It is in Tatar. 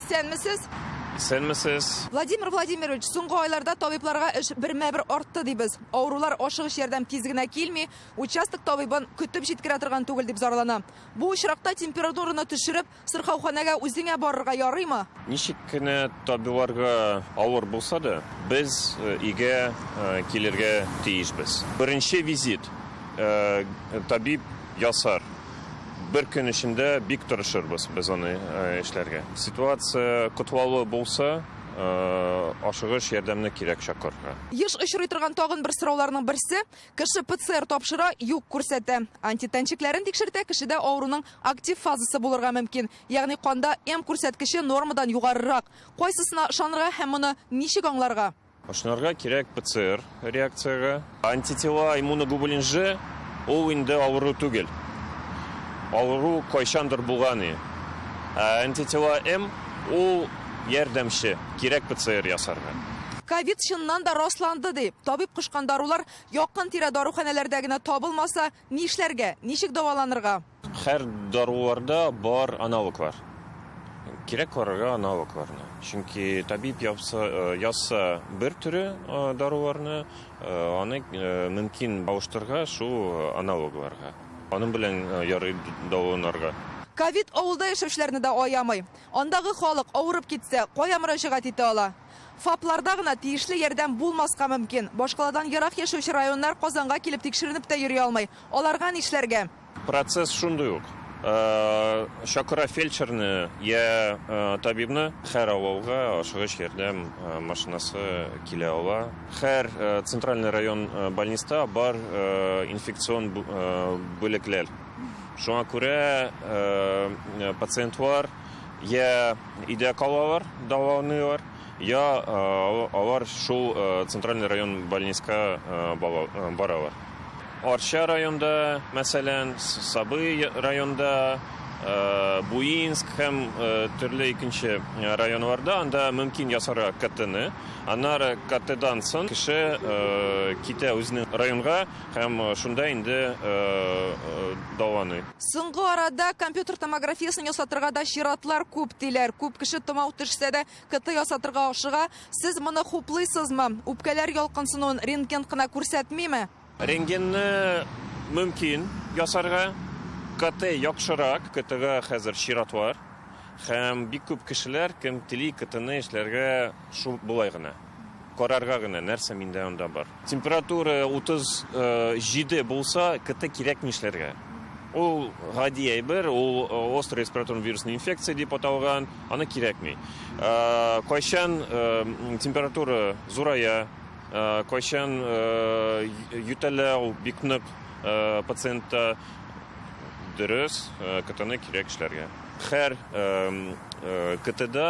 Сәнмесез? Сәнмесез. Владимир Владимирович, соңгы айларда табибларга эш бермә-бер артты дибез. Авырулар ашыгыч ярдәм тиз генә килми, участок табибын көтеп җиткерә торган түгел дип зарлана. Бу очракта температураны төшереп, сырхауханәгә үзеңә барырга ярыймы? Ничек кенә табибларга авыр булса да, без э, өйгә э, килергә тиешбез. Беренче визит э, табиб ясар. Бер көн эчендә бик тырышырбыз без аны эшләргә. Ситуация котлаулы булса, ашыгыч ярдәмне кирәк чакырырга. Еш очрый торган тагын бер сорауларның берсе, кеше ПЦР тапшыра, юк күрсәтә. Антитәнчекләрен тикшертә, кешедә авыруның актив фазасы булырга мөмкин, ягъни канда М күрсәткече нормадан югарырак. Кайсысына ышанырга һәм моны ничек аңларга? Ышнарга кирәк ПЦР реакциягә. Антитела, иммуноглобулин Ж, ул инде авыру түгел. Авыру кайчандыр булган и. Ә антитела М, ул ярдәмче, кирәк ПЦР ясарга. Ковид чыннан да расланды дип, табиб кушкан дарулар якын-тирә даруханәләрдә генә табылмаса, Ни эшләргә? Ничек дәваланырга? Хәр даруларда бар аналоглар. Кирәк карарга аналогларны. Чөнки табиб япса, язса бер төре даруларны, аны мөмкин алыштырга шул аналогларга. Аның белән ярый дәваланырга. Ковид авылда яшәүчеләрне дә аямый. Андагы халык, авырып китсә, кая мөрәҗәгать итә ала? ФАПларда гына тиешле ярдәм булмаска мөмкин. Башкаладан ерак яшәүче районнар Казанга килеп тикшеренеп тә йөри алмый. Аларга нишләргә? Процесс шундый ук. Чакыра фельдшерны йә табибны. Һәр авылга ашыгыч ярдәм машинасы килә ала. Һәр центральный район больниста бар инфекцион бүлекләр. Шуңа күрә пациентлар. Йә өйдә калалар, дәваланыйлар, йә алар шул центральный район больниска баралар. Арча районында, мәсәлән, Сабый районында, Буинск һәм төрле икенче районнарда анда мөмкин ясарга КТны. Аннары КТдан соң кеше китә үзенең районга һәм шунда инде дәваланый. Соңгы арада компьютер томографиясен ясатырга да чиратлар күп, диләр. Күп кеше томау төшсә дә, КТ ясатырга ашыга. Сез моны хуплыйсызмы? Үпкәләр ялкынсынуын рентген кына күрсәтмиме? Рентгенны мөмкин ясарга. КТ яхшырак. КТга хәзер чират бар. Һәм бик күп кешеләр, кем тели, КТны эшләргә шул болай гына. Карарга гына, нәрсә миндә анда бар. Температура 37 булса, КТ кирәк нишләргә? Ул гади әйбер, ул э, острый респираторный вирусный инфекция дип аталган, аны кирәкми. Э, кайчан э, температура зурая, кайчан ютәлә ул бик нык пациентта дөрес, КТны кирәк эшләргә. Хәр КТда